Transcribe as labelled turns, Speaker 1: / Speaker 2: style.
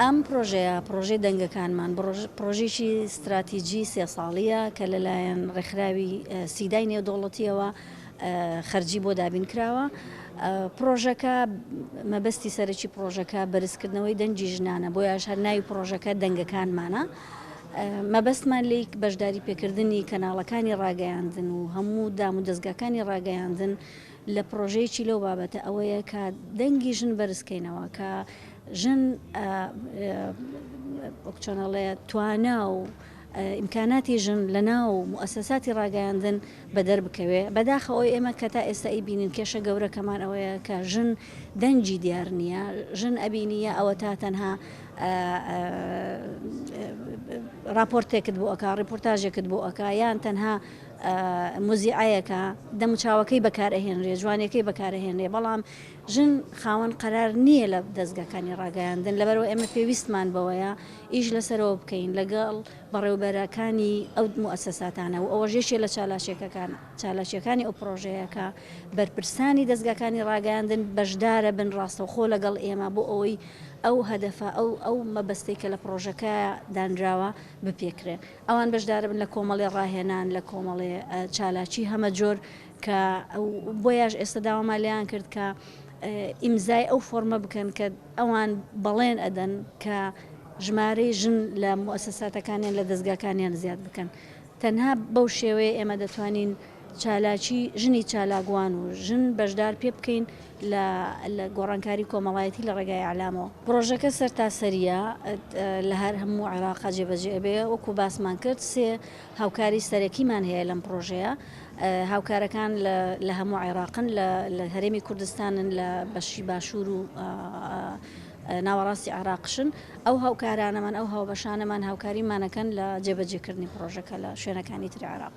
Speaker 1: ئەم پڕۆژەیە، پڕۆژەی دەنگەکانمان، پڕۆژەیەکی ستراتیجی سێ ساڵییە کە لەلایەن ڕێکخراوی سیدای نێودەوڵەتیەوە خەرجی بۆ دابین کراوە. پڕۆژەکە مەبەستی سەرەکی پڕۆژەکە بەرزکردنەوەی دەنگی ژنانە، بۆیەش هەر ناوی پڕۆژەکە دەنگەکانمانە. مەبەستمان لێی بەشداری پێکردنی کەناڵەکانی ڕاگەیاندن و هەموو دام و دەزگاکانی ڕاگەیاندن لە پڕۆژەیەکی لەو بابەتە ئەوەیە کە دەنگی ژن بەرزکەینەوە کە ژن چۆنەڵێ توانا و ئیمکاناتی ژن لە ناو موسەساتی ڕاگەیاندن بەدەر بکەوێ بەداخەوەی ئێمە کە تا ئێستا ئی بینین کێشە گەورەکەمان ئەوەیە کە ژن دەنگی دیار نیە ژن ئەبینی یا ئەوەتا تەنها راپۆرتێکت بۆ ئەکا ڕپۆرتاژێکت بۆ ئەکا یان تەنها مزیعەیەەکە دەموچاوەکەی بەکارەهێنرێ جوانەکەی بەکارەهێنرێ بەڵام ژن خاوەن قەرار نییە لە دەستگەکانی ڕاگەیاندن لەبەرەوە ئێمە پێویستمان بەوەیە ئیش لەسەرەوە بکەین لەگەڵ بەڕێوبەرەکانی ئەو موسەساتانە و ئەوە ژێشێ لە چالاشێکەکان. چالاکییەکانی ئەو پڕۆژەیە کە بەرپرسانی دەزگاکانی ڕاگەیاندن بەشدارە بن ڕاستەوخۆ لەگەڵ ئێمە بۆ ئەوەی ئەو هەدەفە ئەو ئەو مەبەستەی کە لە پڕۆژەکەیە دانراوە بپێکرێن ئەوان بەشدارە بن لە کۆمەڵێ ڕاهێنان لە کۆمەڵێ چالاکی هەمە جۆر کە بۆیاش ئێستا داوامان لێیان کرد کە ئیمزای ئەو فۆرمە بکەن کە ئەوان بەڵێن ئەدەن کە ژمارەی ژن لە موسساتەکانیان لە دەستگاکانیان زیاد بکەن تەنها بەو شێوەیە ئێمە دەتوانین چالاکی ژنی چالاکوان و ژن بەشدار پێ بکەین لە لە گۆڕانکاری کۆمەڵایەتی لە ڕێگای ئەعلامەوە پڕۆژەکە سەرتاسەریە لە هەر هەموو عێراقا جێبەجێ ئەبێ وەکو باسمان کرد سێ هاوکاری سەرەکیمان هەیە لەم پڕۆژەیە هاوکارەکان لە هەموو عێراقن لە هەرێمی کوردستانن لە بەشی باشوور و ناوەڕاستی عێراقشن، ئەو هاوکارانەمان، ئەو هاوبەشانەمان هاوکاریمانەکەن لە جێبەجێکردنی پڕۆژەکە لە شوێنەکانی تری عێراق.